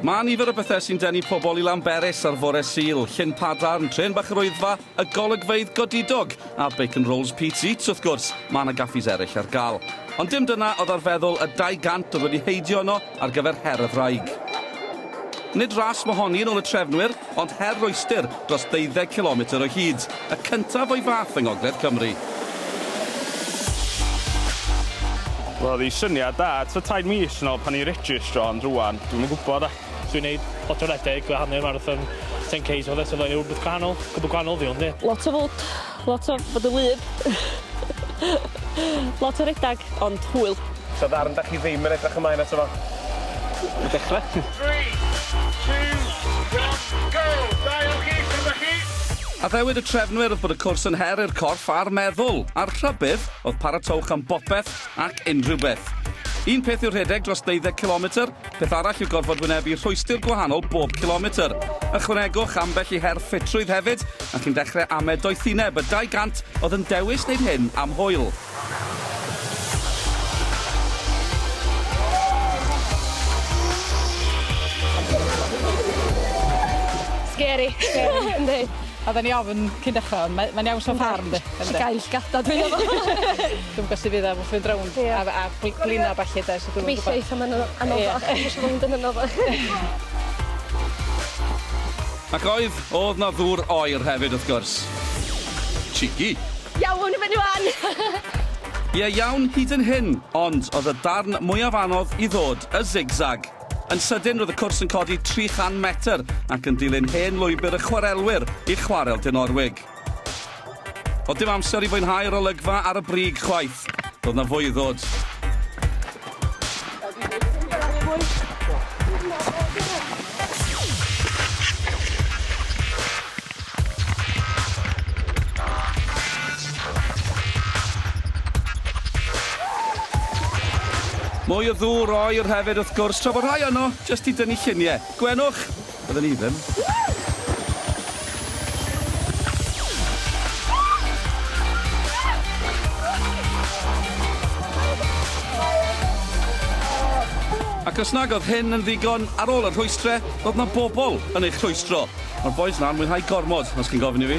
Mae nifer o bethau sy'n denu pobl i Lanberis ar fore Sul, llyn padarn, tren bach yr oedfa, y golygfeydd godidog, a Bacon Rolls Pete's Eats wrth gwrs, mae yna gaffis eraill ar gael. Ond dim dyna oedd ar feddwl y 200 oedd wedi heidio yno ar gyfer her y ddraig. Nid ras mohoni yn ôl y trefnwyr, ond her rhwystr dros ddeuddeg cilometr o hyd, y cyntaf o'i fath yng ngogledd Cymru. Roedd y syniad da tua tair mis yn ol pan i registro ond rwan dwi'm yn gwybod a. Dwi'n neud lot o redeg a hanner marathon 10 Ks a petha so mae'n rhywbeth gwahanol, gwbwl gwahanol fi ond ie. Lot o fwd. Lot o fod yn wlyb. Lot o redag, ond hwyl. So ddarn dach chi ddim yn edrych ymlaen ato fo? Y dechre. Three, two, one, go! Da iawn chi, sut dach chi? Addewid y trefnwyr oedd bod y cwrs yn her i'r corff a'r meddwl, a'r rhybudd oedd paratowch am bopeth ac unrhyw beth. Un peth yw rhedeg dros ddeuddeg cilometr, Peth arall yw gorfod wynebu rhwystr gwahanol bob cilometr. Ychwanegwch ambell i her ffitrwydd hefyd, a chi'n dechrau amed doethineb y 200 oedd yn dewis wneud hyn am hwyl. Scary. Scary, yndi. Oedden ni ofn cyn dechra ond mae mae'n iawn so far yndi? Yndi. Llygau llygada dwi'n meddwl. Dwi'm yn gwbo sud fydd o wrth fynd rownd a a bl- blino a ballu 'de so dwi'm yn gwbo. Gobeithio eitha myn- anoddach. Ie. Gobeithio bo hwn dim yn anoddach. Ac oedd, o'dd 'na ddŵr oer hefyd wrth gwrs. Cheeky. Iawn i fyny ŵan! Ie iawn hyd yn hyn, ond oedd y darn mwyaf anodd i ddod, y zig-zag. Yn sydyn roedd y cwrs yn codi 300 metr ac yn dilyn hen lwybr y chwarelwyr i Chwarel Dinorwig. Oedd dim amser i fwynhau yr olygfa ar y brig chwaith. Doedd na fwy i ddod. Mwy o ddŵr oer hefyd wrth gwrs tra bod rhai yno jyst i dynnu llunie. Gwenwch! Bydden i ddim. Ac os nag oedd hyn yn ddigon, ar ôl y rhwystre, roedd 'na bobl yn eich rhwystro. Mae'r bois 'na'n mwynhau gormod, os chi'n gofyn i fi.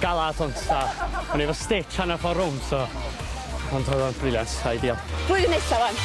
Galad ond fatha o'n i efo stitch hanner ffordd rownd so ond oedd o'n brilliant, ideal. Blwyddyn nesa wan.